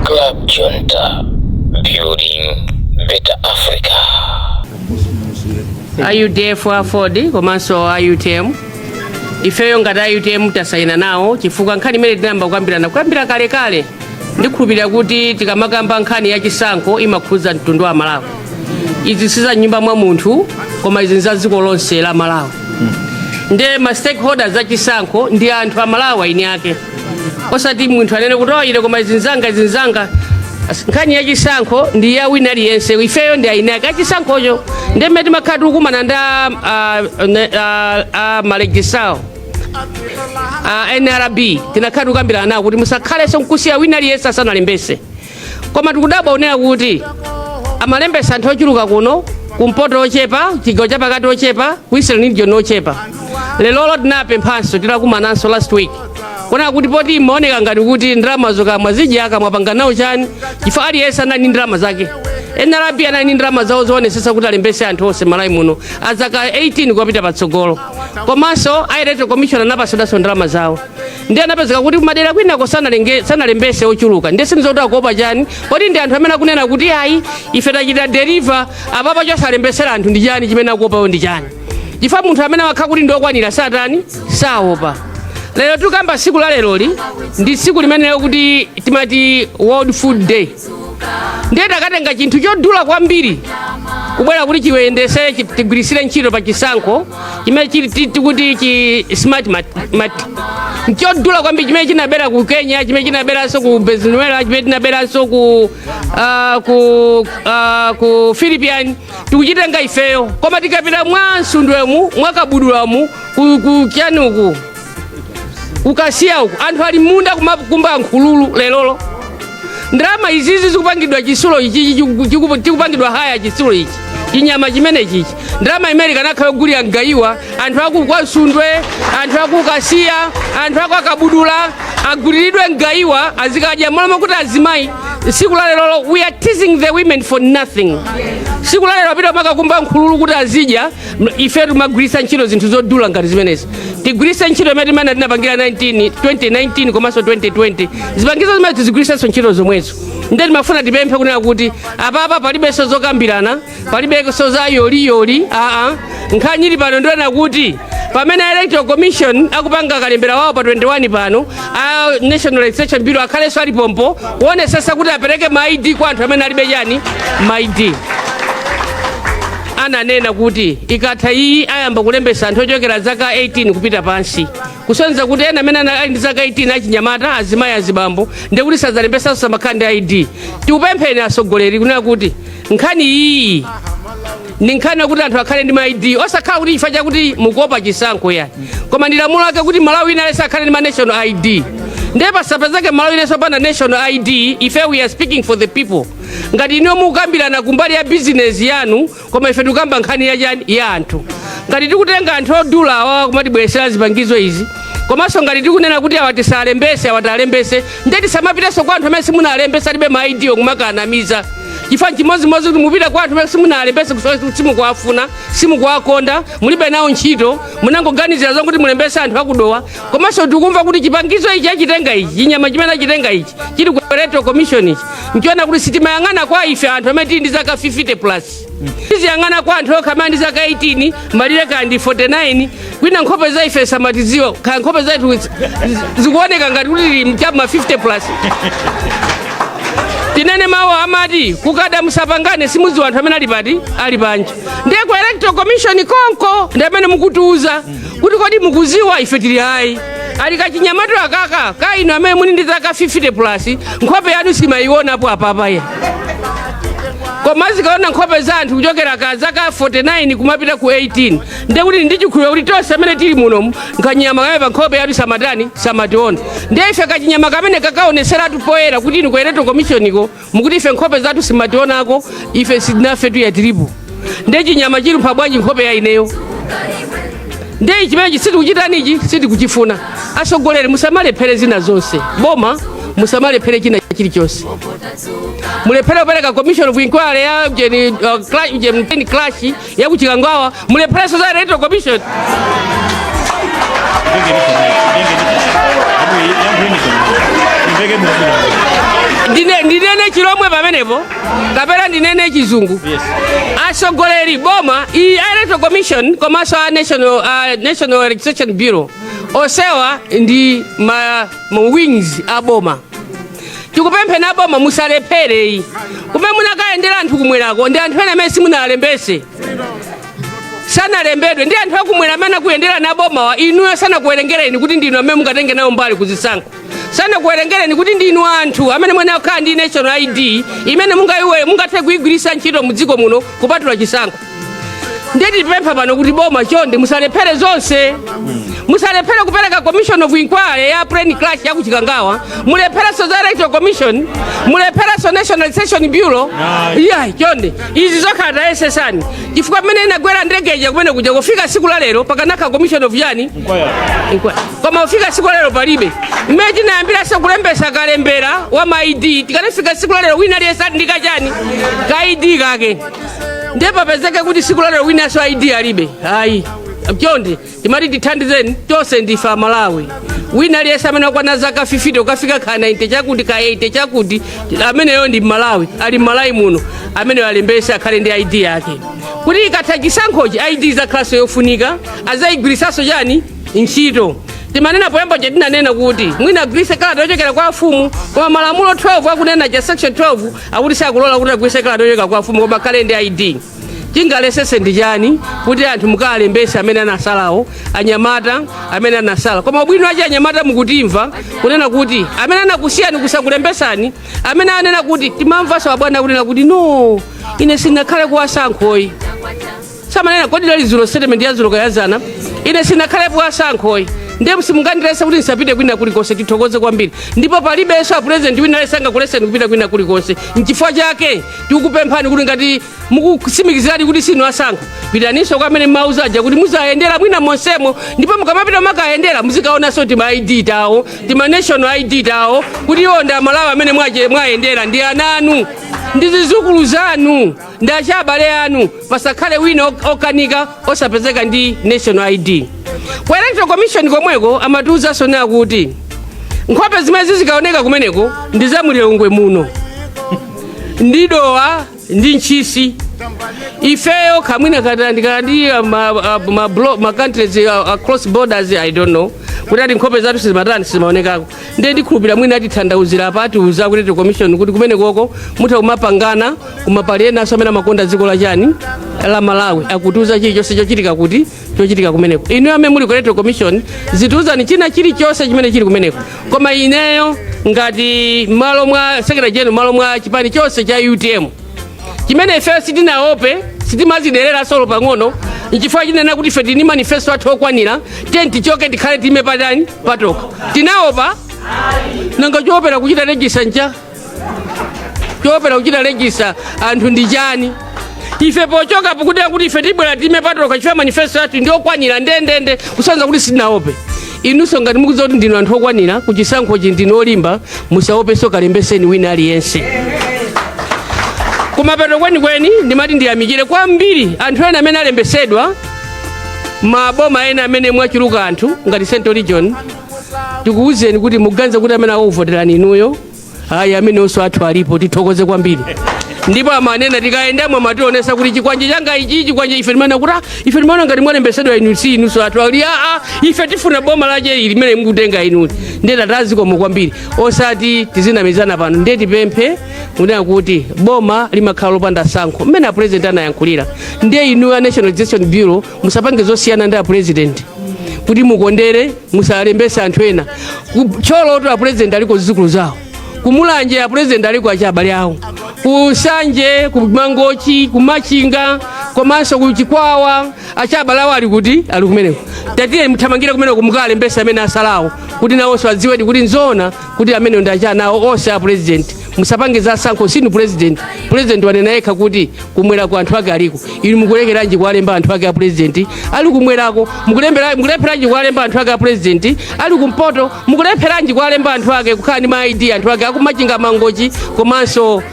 Club Junta, building better Africa. a UDF AFORD komanso a UTM ifeyo ngati a UTM tasayina nawo chifukwa nkhani imene tinayamba kukambirana kuyambira kalekale ndikhulupirira kuti tikamakamba nkhani ya chisankho imakhudza mtundu wa malawi izi si za mnyumba mwa munthu koma izi nza dziko lonse la malawi nde ma stakeholders a chisankho ndi anthu a malawi eni ake osati munthu anene kuti ayi ine koma izi nzanga izi nzanga nkhani ya chisankho ndi ya wina aliyense ifeyo ndi eni ake chisankhocho nde mmene timakhala tikukumana ndi a- a- ne- a- a ma registrar a nrb timakhala tikukambirana nawo kuti musakhalenso nkusiya wina aliyense asanalembetse koma tikudabwa kunena kuti amalembesa anthu ochuluka kuno kumpoto ochepa chigawo chapakati ochepa ku eastern region ochepa lelolo tinapemphanso titakumananso last week kunena kuti poti imaoneka ngati kuti ndalama zokamwa zija akumapanga nawo chani chifukwa aliyense anali ndi ndalama zake nrb anali ndi ndalama zawo zoonesesa kuti alembese anthu onse malawi muno azaka 18 kupita patsogolo komanso a electoral commission anapasidwanso ndalama zawo ndiye anapezeka kuti kumadera kwinako sanalenge- sanalembese ochuluka ndiye sindidziwa kuti akuopa chani poti ndi anthu amene akunena kuti ayi ife tachita deliver apapa chosalembesera anthu ndi chani chimene akuopacho ndi chani chifukwa munthu amene wakhala kuti ndi okwanira satani saopa lero tikamba siku la leroli ndi siku limene lija timati world food day ndiye takatenga chinthu chodula kwambiri kubwera kuti chiyendesere chi- tigwirisire ntchito pa chisankho chimene chili ti- tikuti chi smart mat- mat- nchodula kwambiri chimene chinabera ku kenya chimene chinaberanso ku venezuela chimene chinaberanso ku ah, ku ah, ku philippines tikuchitenga ifeyo koma tikapita mwa msundwemu mwa kabudulamu ku ku chani uku ku kasiya uku anthu ali mmunda kumakumba nkhululu lerolo ndalama izizi zikupangidwa chitsulo ichichi chiku- chiku- chikupangidwa hire chitsulo ichi chinyama chimene chichi ndalama imene ikanakhala yogulira mgayiwa anthu aku kwa msundwe anthu aku kasiya anthu akwa kabudula aguliridwe mgayiwa azikadya mmalo mo kuti azimayi siku la lerolo we are teasing the women for nothing siku la lero apita kumakakumba nkhululu kuti azidya ife tikumagwiritsa ntchito zinthu zodula ngati zimenezi tigwiritse ntchito imene timene tinapangira 19 2019 komanso 2020 zipangizo zimenezo tizigwiritsenso ntchito zomwezo nde timafuna tipemphe kunena kuti apapa palibenso zokambirana palibenso za yoliyoli aa nkhani ili pano ndi yonena kuti pamene electoral commission akupanga kalembera wawo pa 21 pano a national registration bureau akhalenso ali pompo kuonesesa kuti apereke ma id kwa anthu amene alibe chani ma id ananena kuti ikatha iyi ayamba kulembesa anthu ochokera zaka 18 kupita pansi kusonyeza kuti enanso amene ana- ali ndi zaka 18 achinyamata azimayi azibambo ndiye kuti sadzalembetsanso samakhala ndi id tikupempheni atsogoleri kunena kuti nkhani iyi ndi nkhani yakuti anthu akhale ndi ma id osakhala kuti chifukwa chakuti mukuopa chisankho yani koma ndi lamulo lake kuti m'malawi wina aliyense akhale ndi ma national id ndiye pasapezeke m'malawi wina aliyense opanda national id ife we are speaking for the people ngati inuyo mukukambirana kumbali ya bizinesi yanu koma ife tikukamba nkhani ya chani ya anthu ngati tikutenga anthu odula awawa kumatibweresera zipangizo izi komanso ngati tikunena kuti awa tisalembese awa talembese nde tisamapitenso kwa anthu amene simunalembesa alibe ma id wo kumakanamiza chifukwa chimodzimodzi kuti mupita kwa anthu amene simunalembese kusowa simukuwafuna simukuwakonda mulibe nawo ntchito munangoganizira zokuti mulembese anthu aku dowa komanso tikumva kuti chipangizo ichi achitenga ichi chinyama chimene achitenga ichi chili ku electoral commission ichi nchiona kuti sitimayang'ana kwa ife anthu amene tili ndi zaka 50 plus tiziyang'ana kwa anthu okha amene ali ndi zaka 18 malire kaya ndi 49 kwina nkhope za ife samatiziwa kaya nkhope zathu zi- zikuoneka ngati kuti tili mchama 50 plus tinene mawu amati kukada musapangane simudziwa anthu amene ali pati ali panja ndiye ku electoral commission konko ndi amene mukutiuza kuti kodi mukuziwa ife tili ayi ali kachinyamatu akaka ka inu amene muli ndi zaka 50 plus nkhope yanu sikamayionapo apapa ya koma zikuona nkhope za anthu kuchokera ku zaka 49 kumapita ku 18 ndiye kuti ndi chikhulupiriro kuti tonse amene tili munomu nkanyama kamene pa nkhope yathu samatani samationa ndiye ife kachinyama kamene kakaoneseratu poyera kuti inu ku electoral commission ko mukuti ife nkhope zathu simationako ife sitinafetu ayi tilipo nde chinyama chilumpha bwanji nkhope ya ineyo nde chimenechi sitikuchitani ichi sitikuchifuna atsogoleri musamalephere zina zonse boma musamalephere china chilichonse mulephere kupereka commission of inquiry ya ujeni uh, cla- ujeni mteni crash ya ku chikangawa mulephereso za electoral commission Ndine- ndinene chilomwe pamenepo kapena ndinene chizungu atsogoleri boma iyi a electoral commission komanso a national, a national registration bureau onsewa ndi ma, ma wings a boma tikupempheni a boma musalephere iyi kumene munakayendera anthu kumwerako ndi anthu ena amene simunalembese sanalembedwe ndi anthu akumwera amene akuyendera ndi a bomawa inuyo sanakuwerengereni kuti ndinu amene mungatenge nawo mbali kuzisankho sanakuwerengereni kuti ndinu anthu amene muyenera kukhala ndi national id imene mungayiwe mungathe kuyigwiritsa ntchito mu dziko muno kupatula chisankho ndiye tipempha pano kuti boma chonde musalephere zonse musalephere kupereka commission of inquiry ya plane crash ya ku chikangawa mulepherenso za electoral commission mulepherenso national registration bureau iya chonde izi zokhazi tayesesani chifukwa mmene inagwera ndege ija kumene kuja kufika siku la lero pakanakhala commission of yani Inquiry. koma kufika siku la lero palibe mmene tinayambiranso kulembesa kalembera wa ma id tikanafika siku la lero wina aliyense ali ndi kachani ka id kake ndiye papezeke kuti siku la lero winaso id alibe ayi chonde timati tithandizeni tonse ndife amalawi wina aliyense amene akwana zaka 50 ukafika ka 90 chakuti ka 80 chakuti ameneyo ndi mmalawi ali m'malawi muno ameneyo alembese akhale ndi id yake kuti ikatha chisankhochi id izakhalanso yofunika azayigwiritsanso chani ntchito timanena poyamba paja tinanena kuti mwina agwiritse kalata yochokera kwa afumu koma malamulo 12 akunena cha section 12 akuti sakulola kuti agwirise kalata yochokera kwa afumu koma akhale ndi id chingalephereese ndi chani kuti anthu mukaalembese amene anasalawo anyamata amene anasala koma ubwino wache anyamata mukutimva kunena kuti amene anakusiyani kusakulembesani amene anena kuti timamvaso abwana kunena kuti no ine sinakhale ku wasankho ayi samanena kodi lali zulo statement ya zulo kaya zana ine sinakhale ku wasankho ayi ndipo simungandilese kuti ndisapite kwina kulikonse tithokoze kwambiri ndipo palibenso apurezidenti wina aliyense angakuleseni kupita kwina kulikonse nchifukwa chake tikukupemphani kuti ngati mukusimikizirani kuti sinu asankho pitaninso kwa amene mumawauza aja kuti muzayendere mwina monsemo ndipo mukamapita mukayendera muzikaonanso tima id tawo tima national id tawo kuti iwo ndi amalawi amene mwache- mwayendera ndi ananu ndi zizukulu zanu ndi achabale anu pasakhale wina ok- okanika osapezeka ndi national id ku electoral commission komweko amatiuzanso kuti nkhope zimene zizikaoneka kumeneko ndi za mulilongwe muno ndi dowa ndi ntchisi ifeyo ka mwina tayandikana ndi uh, ma- uh, ma blo- ma countries uh, across borders i don't know kuti ati nkhope zathu sizimatani sizimaonekako ndiye ndikhulupirira mwina atithandauzira apa atiuza aku electoral commission kuti kumenekoko mutha kumapangana koma pali enanso amene amakonda dziko la chani la malawi akutiuza chilichonse chochitika kuti chochitika kumeneko inuyo amene muli ku electoral commission zitiuzani china chilichonse chimene chili kumeneko koma ineyo ngati mmalo mwa secretary general mmalo mwa chipani chonse cha utm chimene ifeyo sitinaope sitimaziderera solo pang'ono nchifukwa tikunena kuti ife tili ndi manifesto athu okwanira tinati tichoke tikhale tiime patani patokha tinaopa nanga choopera kuchita register ncha choopera kuchita register anthu ndi chani ife pochoka pokuti kuti ife tibwera tiime patokha chifukwa manifesto athu ndi okwanira ndendende kusanza kuti sitinaope inunso ngati mukudziwa kuti ndinu anthu okwanira ku chisankhochi ndinu olimba musaopenso kalembeseni wina aliyense kumapeto kwenikweni ndimati ndiyamikire kwambiri anthu ena amene alembesedwa maboma ena amene mwachuluka anthu ngati central region tikuwuzeni kuti muganize kuti amene akuvoterani inuyo ayi amenewonso anthu alipo tithokoze kwambiri ndipo amanena tikayendamo amationesa kuti chikwanje changa ichi chikwanje ife timaona kuti "Ah, ife timaona ngati mwalembetsedwa inu si inunso anthu ali aa ife tifuna boma lache ili limene mukutenga inu ndiye tati zikomo kwambiri osati tizinamizana pano ndiye tipemphe kunena kuti boma limakhala lopanda tsankho mmene apurezidenti anayankhulira ndiye inu a national Registration bureau musapange zosiyana ndi apurezidenti kuti mukondere musalembese anthu ena ku Thyolo apurezidenti aliko zidzukulu zawo ku Mulanje apurezidenti aliko achibale awo ku Nsanje ku Mangochi ku Machinga komanso ku Chikwawa achibale awo ali kuti ali kumeneko tatiyeni muthamangire kumeneko mukalembese amene atsalawo kuti nawonso adziwedi kuti nzoona kuti amenewo ndi achinawo onse a president musapange za tsankho sinu president president wanena yekha kuti kumwerako anthu ake aliko inu mukulekeranji kuwalemba anthu ake a president ali kumwerako mukulembera- mukulepheranji kuwalemba anthu ake a president ali kumpoto mukulepheranji kuwalemba anthu ake kukhala ndi ma id anthu ake aku Machinga Mangochi komanso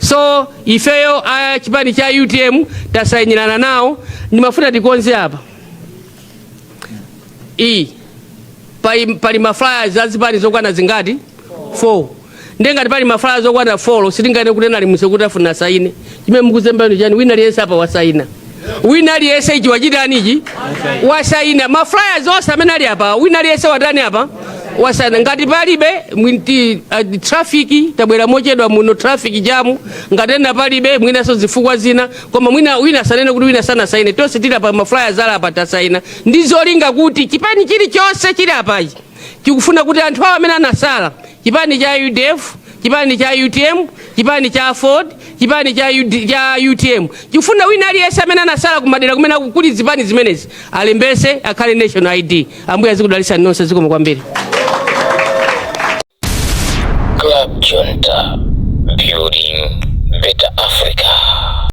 So ifeyo a chipani cha utm tasayinirana nawo, ndimafuna tikonze apa iyi pali, pali ma flyers za zipani zokwana zingati 4 ndiye ngati pali ma flyers zokwana 4 sitinganene kuti nali musekuti afuna asayine chimene mukuzemba inu n'chani wina aliyense apa wasayina wina aliyense ichi wachitani ichi wasaina ma flyers onse amene ali apa wina aliyense watani apa wasaina ngati palibe mwina ndi uh, traffic tabwera mochedwa muno traffic jam ngati ena palibe mwinanso zifukwa zina koma mwina wina asanene kuti wina sanasaine tonse tili apa ma flyers ali apa tasaina ndi zolinga kuti chipani chilichonse chili apachi chikufuna kuti anthu awo amene anatsala Chipani cha udf, chipani cha utm, chipani cha aford, chipani cha, UD, cha utm chikufuna wina aliyense amene anatsala kumadera kumene aku- kuli zipani zimenezi alembese akhale national id ambuye azikudalisani nonse zikomo kwambiri Club Junta, building better Africa.